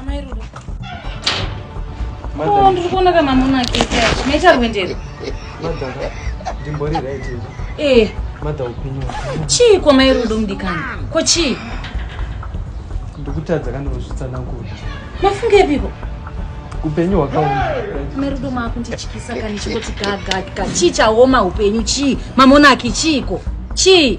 Amai Rudo. Madam. Oh, ndiri kuona kana muna kete. Mecha rwendere. Madam. Ndimbori right. Eh. Madam upenyu. Chii kwa mai Rudo mdikani? Ko chii? Ndikutadza kana kuzvitsa nangu. Mafunga epiko? upenyu hwakaoma merudo maakundityisa kani chingoti gagagga chii chaoma upenyu chii mamonaki chiiko chii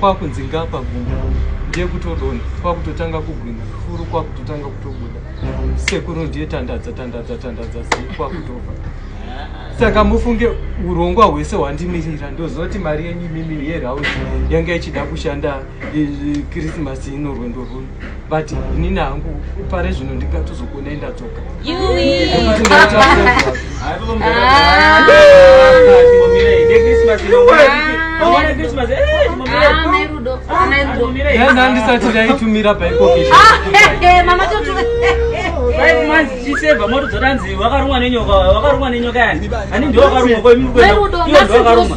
kwakunzi ngapa gumbo ndiye kutodona kwakutotanga kugwina furu kwakutotanga kutobuda sekuru ndiye tandadza tandadza tandadza zii kwakutofa saka mufunge urongwa hwese hwandimirira ndozoti mari yenyu imimi yerauzi yanga ichida kushanda krisimasi ino rwendo rwuno but inini hangu pare zvino ndingatozokuonai ndadzoka andisati ndaitumira paikokeaiseva moto dzotanzi wakarumwa nenyoka wakarumwa nenyoka yani ani ndiwakarumwa koimuiwo ndiwakarumwa